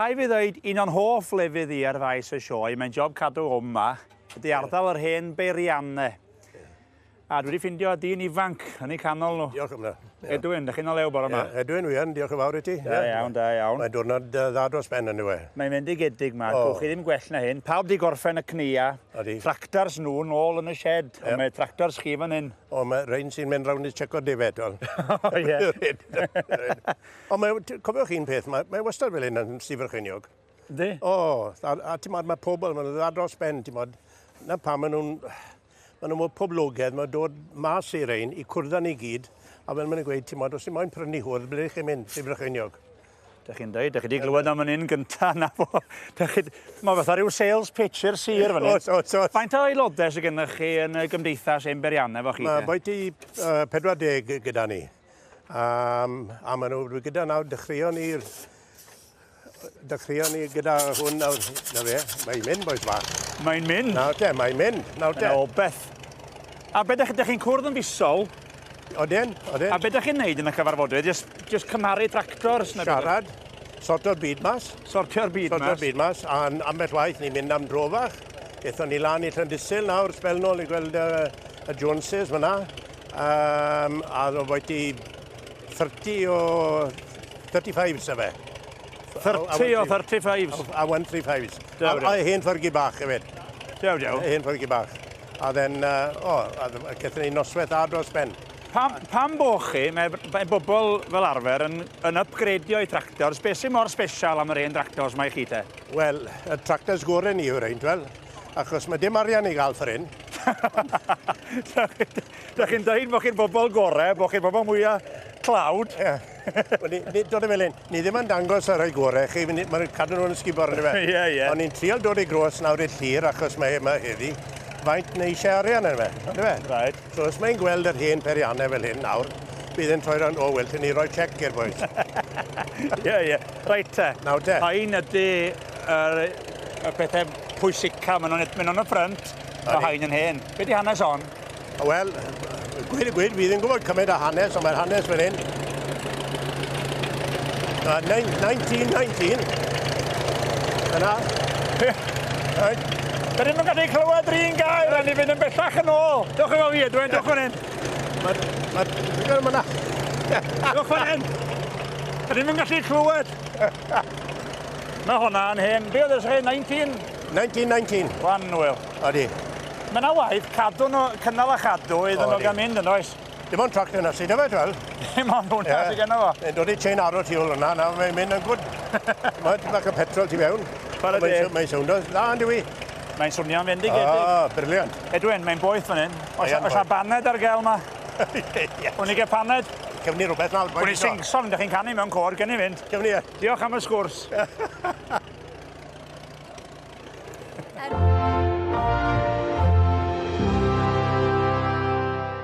Rhaid fi ddweud, un o'n hoff lefydd i ar faes y sioe, mae'n job cadw hwn yma, ydy ardal yr hen beirianne. A dwi wedi ffindio dyn ifanc yn ei canol nhw. Diolch am hynna. Ie. Edwin, ydych chi'n o lew bore yma? Ie, Edwin, wi yn, diolch yn fawr i ti. Da iawn, da iawn. Mae'n diwrnod dda dros ben yn yw e. Mae'n fendigedig ma, oh. chi ddim gwell na hyn. Pawb di gorffen y cnia, tractors nhw'n ôl yn y shed, yep. ond mae tractors chi fan hyn. O, mae rhain sy'n mynd rownd i checo defed. O, ie. Ond mae, cofiwch un peth, mae, mae wastad fel hyn yn Sir Frycheiniog. Ynddi? O, a, a ti'n modd, mae pobl, maen nhw'n dda dros ben, ti'n modd. Na pa maen nhw'n, maen nhw'n poblogedd, maen nhw'n dod mas i'r ein i cwrdd ni gyd, a fel maen nhw'n gweud, ti'n modd, os ti'n moyn prynu hwrdd, ble ydych chi'n mynd, Sir Frycheiniog? Da chi'n dweud, da chi wedi glywed am yn un gyntaf na fo. Mae fatha rhyw sales pitch i'r sir fan hyn. Faint o aelodau sydd gennych chi yn y gymdeithas ein beriannau fo chi? Mae boi ti uh, 40 gyda ni. Um, a maen nhw wedi gyda nawr, dechreuon ni, dechreuon ni gyda hwn nawr, na fe, mae'n mynd boes fach. Mae'n mynd? Nawr te, mae'n mynd, nawr te. Yn obeth. A beth ydych chi'n cwrdd yn fisol? Oden, oden. A beth ydych chi'n neud yn y cyfarfodydd? Just, just cymaru tractors? Siarad, sorto'r byd mas. Sortio'r byd mas? Sortio'r byd mas, a ambell waith ni'n mynd am drofach. Ethon ni lan i Llandysil nawr, sbel nôl i gweld uh, y Joneses fyna. Um, a oedd wedi 30 o 35 sa fe. 30 o 35s? A 135s. A, a hen ffyrgi bach hefyd. Dew, dew. Hen ffyrgi bach. A then, uh, o, a gyda ni noswaith a dros ben. Pam, pam bo chi, mae, mae bobl fel arfer yn, yn upgradio i tractors, beth sy'n mor special am yr hen tractors mae chi te? Wel, y tractors gorau ni yw'r ein, wel, achos mae dim arian i gael ffordd hyn. da chi'n dweud bod chi'n bobl gorau, bod chi'n bobl mwyaf clawd. Dod y felyn, ni ddim yn dangos ar ei gorau chi, mae'n cadw nhw'n ysgubor ar yma. Ie, ie. Ond ni'n trial dod i gros nawr i'r llir achos mae yma heddi. Faint neu eisiau arian yn yma, ond yma. Right. So os mae'n gweld yr hen perianne fel hyn nawr, bydd e'n troi rownd, o, wel, ti'n ni roi chec i'r bois. Ie, ie. Reit te. Nawr te. Hain ydy yr, y pethau pwysica, maen nhw'n mynd o'n y ffrynt, o hain yn hen. Be di hanes hon? Wel, gweud y gwir, fi ddim yn gwybod cymaint o hanes, ond mae'r hanes fan hyn. Uh, 1919. Yna. Right. Dyn ni'n gallu clywed rhywun gael, rhaid i fynd yn bellach yn ôl. Dwch yn ôl fi, Edwin, dwch fan hyn. Mae'r... Mae'r... Dwi'n mynd yna. Dwch fan hyn. Dyn ni'n gallu clywed. Mae hwnna'n hen. Be oedd ysgrifennu 19? 1919. Wan, Wil. Odi. Mae yna waith cadw nhw, cynnal a chadw iddyn nhw gael mynd yn oes. Dim ond tractor na sydd yfed fel. Dim ond hwnna yeah. sydd gen fo. Mae'n dod i chain arrow tu ôl yna, nawr mae'n mynd yn gwrdd. Mae ti'n bach o petrol tu fewn. Mae'n deg. Mae'n swnio dda, yn dwi. Mae'n swnio'n fendigedig. Ah, briliant. Edwin, mae'n boeth fan hyn. Oes a baned ar gael ma? Wni gael paned? Cefni rhywbeth nawr. Wni singson, ydych chi'n canu mewn cor, gen i fynd. Cefni e. Diolch am y sgwrs.